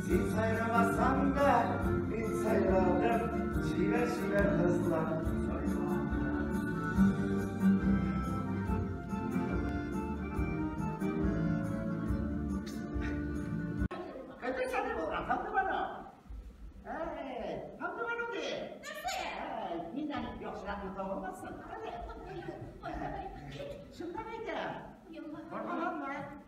Син сайрамасаң да, мин сайладым, чибәр-чибәр кызлар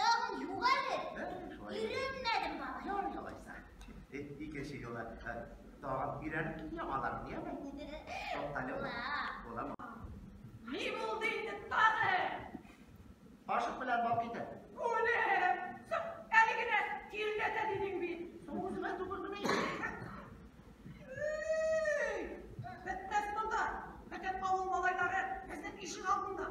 Тагын юк әле. Өйрәнмәдем бала. Ярый алайса. Икенче юлы тагын өйрәнеп кил яңалар, дияме? Туктале. Буламы? Ни булды инде тагы? Ашык белән бак иде. Үлем! Әле генә тиргәтә дидең бит. Соң үземә түгелмени? Бетмәс монда. Бөтен авыл малайлары безнең ишек алдында.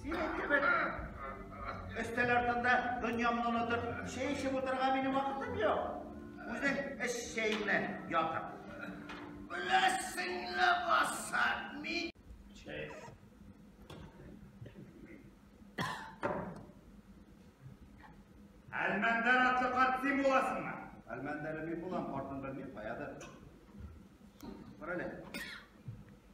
Синең кебек өстәл артында дөньямны онытып, чәй эчеп утырырга минем вакытым юк. Үзең эш чәйеңне ятып. Беләсең ләбаса, мин... Чәй. Әлмәндәр атлы карт син буласыңмы? Әлмәндәре мин булам, картын белмим, каядыр. Бар әле.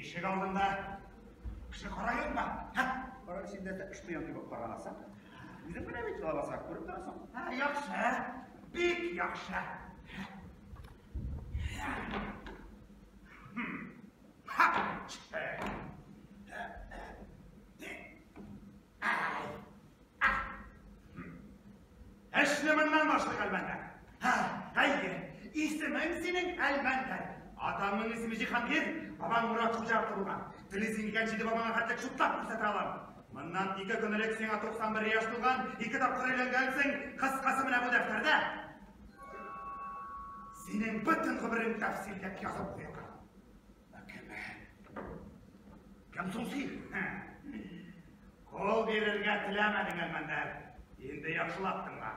Ишек алдында кеше карайын ба? Һә? Кара син дә шпион дип карамаса. Үзең менә бит лабаса күреп торасың. Һә, яхшы. Бик яхшы. Ха! Эшне моннан башлык әлмәндәр. Һә, әйе, исемең синең әлмәндәр. Атаңның исеме Җиһангир, бабаң Мурат Хуҗа атлы булган. Телисең икән, җиде бабаңа хәтле шутлап күрсәтә алам. Моннан ике көн элек сиңа 91 яшь тулган, ике тапкыр өйләнгәнсең, кыскасы менә бу дәфтәрдә. Синең бөтен гомерең тәфсилләп язып куелган. Кем соң син? Кол бирергә теләмәдең, Әлмәндәр. Инде яхшылап тыңла.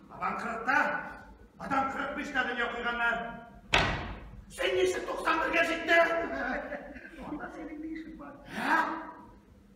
Бабаң кырыкта, атаң кырык биштә дөнья куйганнар. Син ничек 91-гә җиттең? Анда синең ни эшең бар? Ә?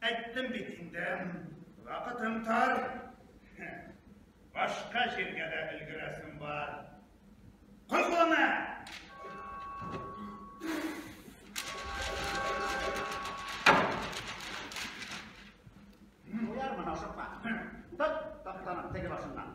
Әйттем бит инде, вакытым тар. Башка җиргә дә өлгерәсем бар. Козлана! Уяр мына ашыкма. Тот, токтанып, теге башыннан.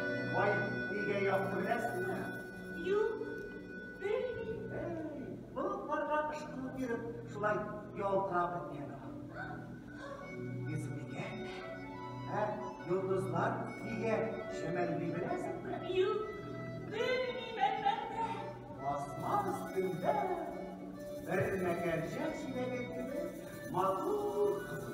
Вай, нигә яхшы беләсеңме? Юк, белмим. Эй, болытларга ышкыну биреп, шулай ялтырап беткән. Исмигә? Ә йолдызлар нигә шәмәлли беләсеңме? Юк, белмим әлбәттә. Асман өстендә бер мәгәрҗә чиләге кебек матур кызыл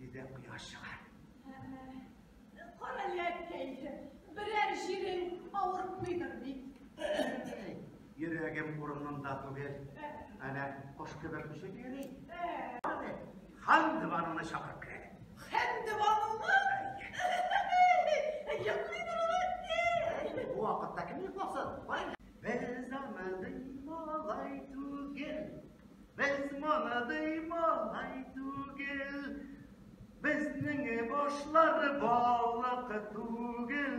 Өйдә кояш чыгар. Кара ләккәй, берәр җирең авыртмыйдыр бит. Йөрәгем урынында түгел. Әнә кош кебек очып йөри. Хан диванына чакырып керә. Хан диванына? Йоклыйдыр алар. Бу вакытта кем йокласын? Бер заманның малай түгел. Без моныдый малай түгел, Безнең башлар балык түгел,